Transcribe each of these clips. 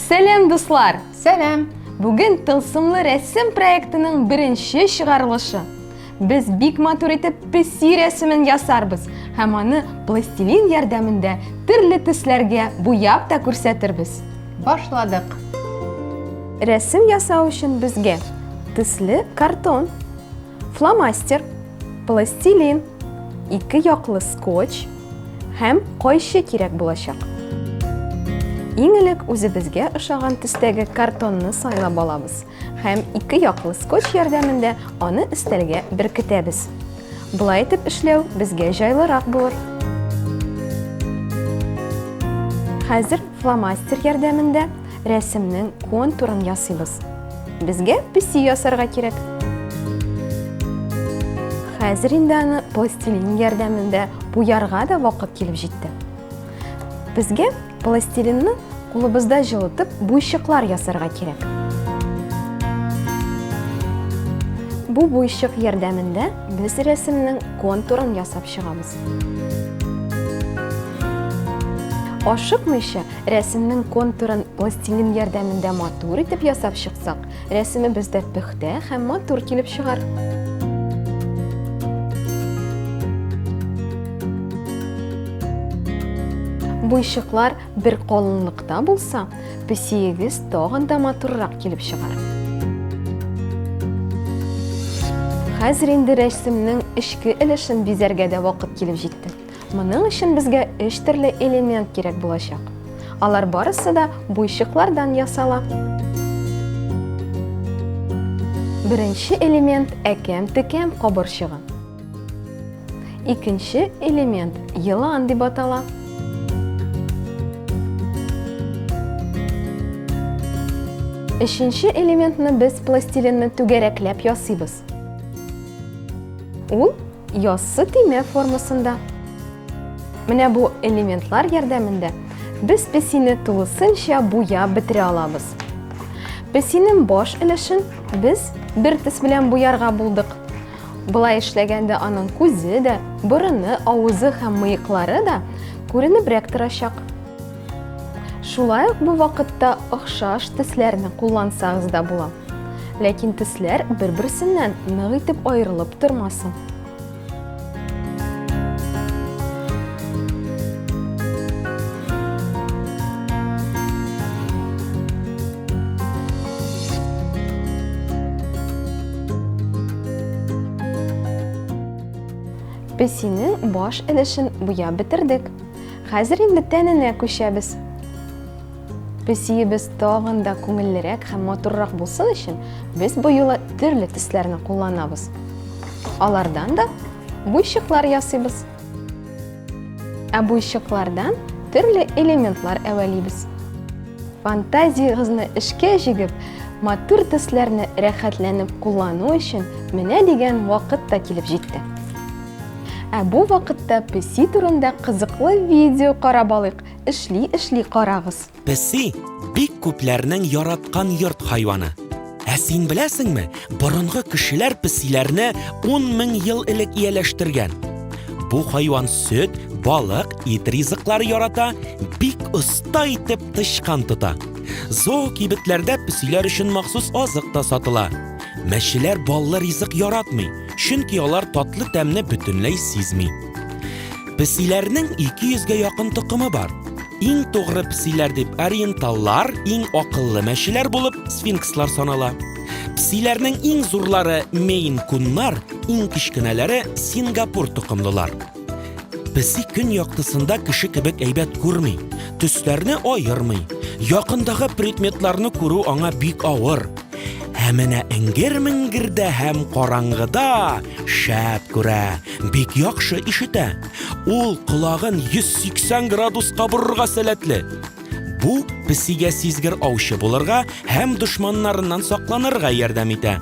Сәлем, дуслар! Сәлем! Бүген тылсымлы рәсем проектының беренче чыгарылышы. Без бик матур итеп песи рәсемен ясарбыз һәм аны пластилин ярдәмендә төрле төсләргә буяп та күрсәтербез. Башладык! Рәсем ясау өчен безгә төсле картон, фломастер, пластилин, ике яклы скотч һәм кайчы кирәк булачак. Иң элек үзебезгә ошаган төстәге картонны сайлап алабыз һәм ике яклы скотч ярдәмендә аны өстәлгә беркетәбез. Болай итеп эшләү безгә җайлырак булыр. Хәзер фломастер ярдәмендә Рәсемнең контурын ясыйбыз. Безгә песи ясарга кирәк. Хәзер инде аны пластилин ярдәмендә буярга да вакыт килеп җитте. Безгә пластилинны кулыбызда җылытып буйчыклар ясарга кирәк. Бу буйчык ярдәмендә без рәсемнең контурын ясап чыгабыз. Ашыкмыйча Рәсемнең контурын пластилин ярдәмендә матур итеп ясап чыксак, рәсемебез дә пөхтә һәм матур килеп чыгар. Буйчыклар бер калынлыкта булса, песиегез тагын да матуррак килеп чыгар. Хәзер инде рәсемнең эчке өлешен бизәргә дә вакыт килеп җитте. Моның өчен безгә өч төрле элемент кирәк булачак. Алар барысы да буйчыклардан ясала. Беренче элемент әкәм-төкәм кабырчыгы. Икенче элемент елан дип атала. Өченче элементны без пластилинны түгәрәкләп ясыйбыз. Ул Яссы төймә формасында. Менә бу элементлар ярдәмендә без песине тулысынча буяп бетерә алабыз. Песинең баш өлешен без бер төс белән буярга булдык. Болай эшләгәндә аның күзе дә, борыны, авызы һәм мыеклары да күренебрәк торачак. Шулай ук бу вакытта охшаш төсләрне куллансагыз да була. Ләкин төсләр бер-берсеннән нык итеп аерылып тормасын. Песинең баш өлешен буяп бетердек. Хәзер инде тәненә күчәбез. Песиебез тагын да күңеллерәк һәм матуррак булсын өчен, без бу юлы төрле төсләрне кулланабыз. Алардан да буйчыклар ясыйбыз. Ә буйчыклардан төрле элементлар әвәлибез. Фантазиягызны эшкә җигеп, матур төсләрне рәхәтләнеп куллану өчен менә дигән вакыт та килеп җитте. Ә бу вакытта песи турында кызыклы видео карап алыйк. Эшли-эшли карагыз. Песи бик күпләрнең яраткан йорт хайваны. Ә син беләсеңме, борынгы кешеләр песиләрне 10 мең ел элек ияләштергән. Бу хайван сөт, балык, ит ризыклары ярата, бик оста итеп тычкан тота. Зоокибетләрдә песиләр өчен махсус азык та сатыла. Мәчеләр баллы ризык яратмый, чөнки алар татлы тәмне бөтенләй сизми. Песиләрнең 200 гә якын токымы бар. Иң тугры песиләр дип ориенталлар, иң акыллы мәчеләр булып сфинкслар санала. Песиләрнең иң зурлары мейн-куннар, иң кечкенәләре сингапур токымлылар. Песи көн яктысында кеше кебек әйбәт күрми, төсләрне аермый. Якындагы предметларны күрү аңа бик авыр. Ә менә эңгер-меңгердә һәм караңгыда шәп күрә, бик яхшы ишетә. Ул колагын 180 градуска борырга сәләтле. Бу песигә сизгер аучы булырга һәм дошманнарыннан сакланырга ярдәм итә.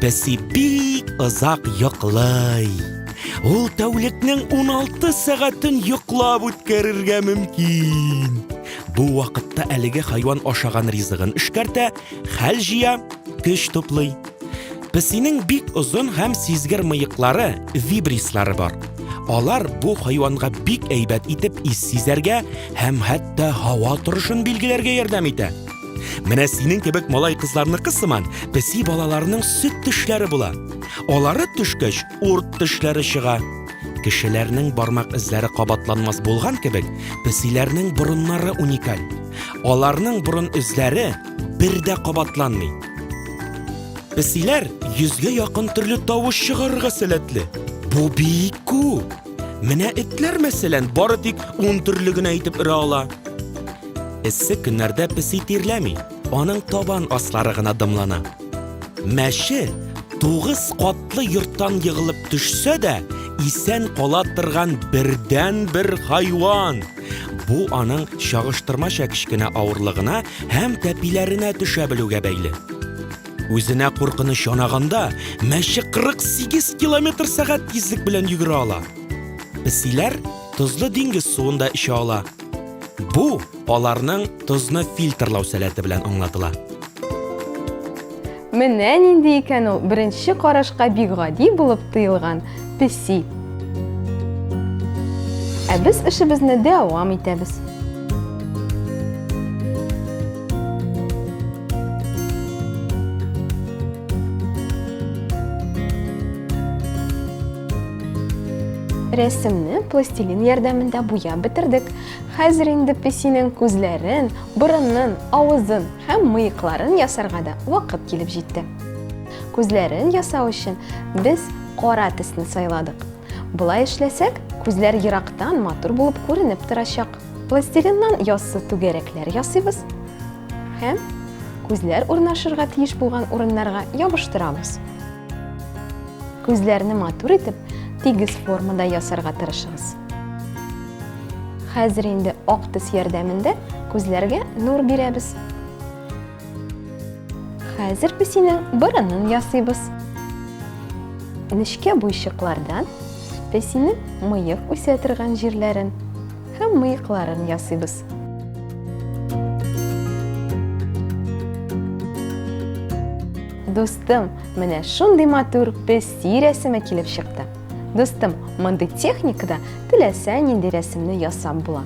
Песи бик озак йоклый. Ул тәүлекнең 16 сәгатен йоклап үткәрергә мөмкин. Бу вакытта әлеге хайван ашаган ризыгын эшкәртә, хәл җыя, көч туплый. Песинең бик озын һәм сизгер мыеклары, вибрислары бар. Алар бу хайванга бик әйбәт итеп ис сизәргә һәм хәтта һава торышын билгеләргә ярдәм итә. Менә синең кебек малай-кызларныкы сыман песи балаларының сөт тешләре була. Алары төшкәч, урт тешләре чыга. Кешеләрнең бармак эзләре кабатланмас булган кебек, песиләрнең борыннары уникаль. Аларның борын эзләре бер дә кабатланмый. Песиләр йөзгә якын төрле тавыш чыгарырга сәләтле. Бу бик күп. Менә этләр, мәсәлән, бары тик 10 төрле генә итеп өрә ала. Эссе көннәрдә песи тирләми, аның табан аслары гына дымлана. Мәче тугыз катлы йорттан егылып төшсә дә, исән кала торган бердән-бер хайван. Бу аның чагыштырмача кечкенә авырлыгына һәм тәпиләренә төшә белүгә бәйле. Үзенә куркыныч янаганда, мәче 48 километр сәгать тизлек белән йөгерә ала. Песиләр тозлы диңгез суын да эчә ала. Бу аларның тозны фильтрлау сәләте белән аңлатыла. Менә нинди икән ул беренче карашка бик гади булып тоелган песи. Ә без эшебезне дәвам итәбез. Рәсемне пластилин ярдәмендә буяп бетердек. Хәзер инде песинең күзләрен, борынын, авызын һәм мыекларын ясарга да вакыт килеп җитте. Күзләрен ясау өчен без кара тесне сайладык. Болай эшләсәк, күзләр ерактан матур булып күренеп торачак. Пластилиннан яссы түгәрәкләр ясыйбыз һәм күзләр урнашырга тиеш булган урыннарга ябыштырабыз. Күзләрне матур итеп, тигез формада ясарга тырышыгыз. Хәзер инде ак төс ярдәмендә күзләргә нур бирәбез. Хәзер песинең борынын ясыйбыз. Нечкә буйчыклардан песинең мыек үсә торган җирләрен һәм мыекларын ясыйбыз. Дустым, менә шундый матур песи рәсеме килеп чыкты. Дустым, мондый техникада теләсә нинди рәсемне ясап була.